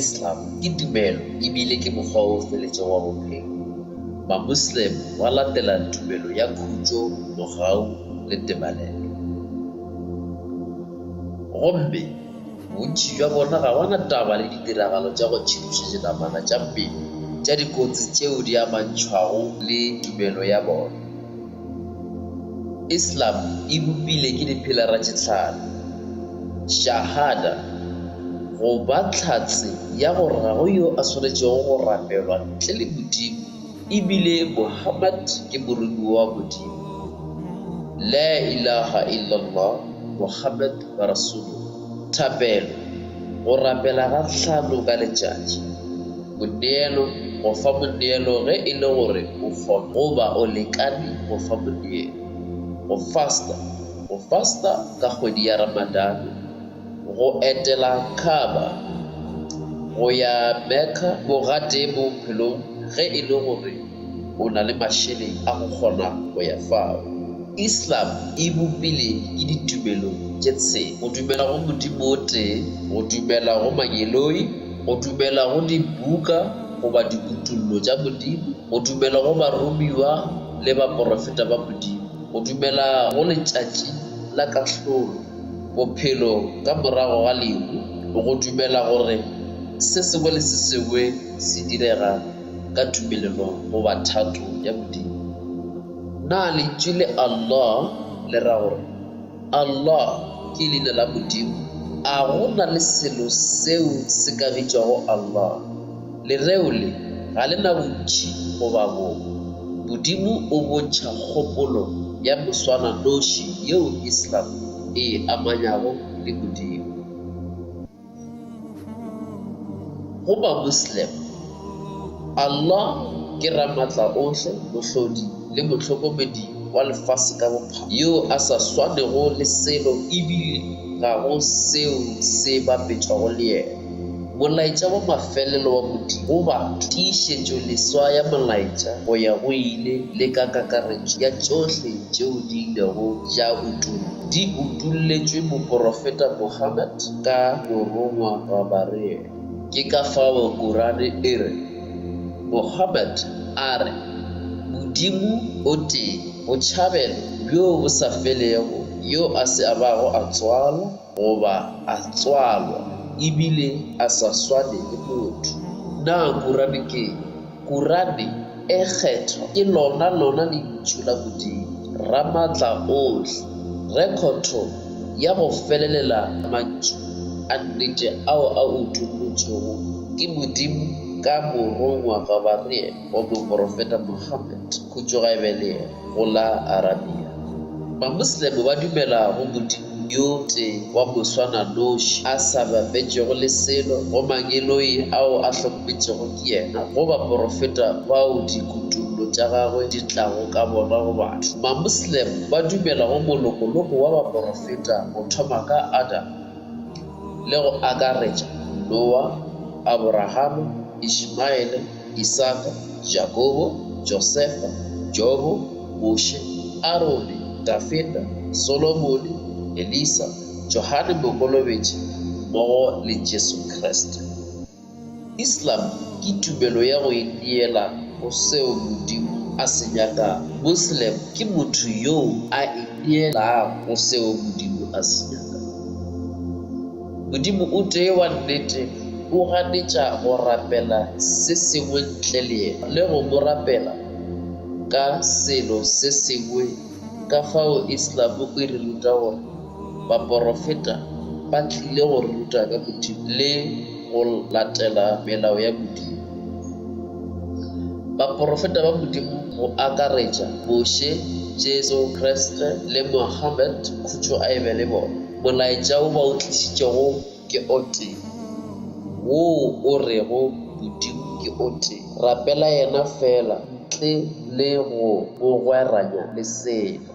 Islam ke tumelo ebile ke mokgwa o feletšego wa bophelo. Mamoslem ba latela tumelo ya khutšo, mogau le tebalelo. Gomme. Bontši bja bona ga ba na taba le ditiragalo tša go tšhiduša dinamana tša mmele tša dikotsi tšeo di amantšhwago le tumelo ya bona. Islam e bopile ke dipilara tše tlhano, Shahada, go ba tlhatse ya gore ga go yo a swanetšego go rapelwa ntle le Modimo e bile Muhammad ke moromiwa wa Modimo, La Ilaha Illallah, Muhammad ba re sologa. Thapelo, go rapela ga hlano ka letšatši. Moneelo, go fa moneelo ge e le gore o kgona goba o lekane go fa moneelo. Go fasta, go fasta ka kgwedi ya Ramadane. Go etela Kaaba, go ya Mecca, bogatee bophelong ge e le gore. O na le mašeleng a go kgona go ya fao. Islam e bopile ke ditumelo tše tshela, go dumela go Modimo o tee, go dumela go mangeloi, go dumela go dibuka goba dikutollo tša Modimo, go dumela go baromiwa le baporofeta ba Modimo, go dumela go Letšatši la Kahlolo, bophelo ka morago ga lehu, go dumela gore se sengwe le se sengwe se direga ka tumelelong goba thato ya Modimo. Na lentšu le Allah le ra gore Allah ke leina la Modimo? A go na le selo seo se ka bitšwago Allah? Lereo le ga le na bontši goba bong. Modimo o bontšha kgopolo ya moswana-noši yeo Islam e e amanyago le Modimo. Go Bamoslem, Allah ke Ramatlaohle, Mohlodi le Mohlokomedi wa lefase ka bophara, yo a sa swanego le selo e bile ga go seo se bapetšwago le yena. Molaetša wa mafelelo wa Modimo go batho, tiišetšoleswa ya molaetša go ya go ile le ka kakaretšo ya tšohle tšeo di ilego tša utollwa. Di utolletšwe moporofeta Muhammad ka morongwa Gabareel. Ke ka fao Kurane e re, Muhammad a re, Modimo o tee, botšhabelo bjo bo sa felego, yo a se a bago a tswalwa goba a tswalwa e bile a sa swane le motho. Na Kurane ke eng? Kurane e kgethwa ke lona lona Lentšu la Modimo, Ramatlaohle, rekhotho ya go felelela ya mantšu a nnete ao a utollotšwego ke Modimo ka Morongwa Gabariyele go moporofeta Mohammed, khutšo ga e be le yena. go la Arabia. Mamoslemo ba dumela go modimo yo tee wa moswananoši a sa bapetšego le selo, go mangeloi ao a hlokometšego ke yena, go baporofeta bao dikutollo tša gagwe di tlago ka bona go batho. Mamoslemo ba dumela go molokoloko wa baporofeta go thoma ka Adam le go akaretša Noa, Aborahama, Ishmaele, Isaka, Jakobo, Josefa, Jobo, Moshe, Arone, Dafida, Solomone, Elisa, Johane Mokolobetši mmogo le Jesu Kriste. Islam ke tumelo ya go ineela go seo Modimo a se nyakago. Muslim ke motho yoo a ineelago go seo Modimo a se nyakago. Modimo o tee wa nnete, o ganetša go rapela se sengwe ntle le yena le go mo rapela ka selo se sengwe, ka fao Islam e re ruta gore baporofeta ba tlile go re ruta ka Modimo le go latela melao ya Modimo. Baporofeta ba Modimo go akaretša Moshe, Jesu Kriste le Muhammad, khutšo a e be le bona, Molaetša wo ba o tlišitšego ke o tee, woo o rego Modimo ke o tee. Rapela Yena feela ntle le go bogweranya le selo.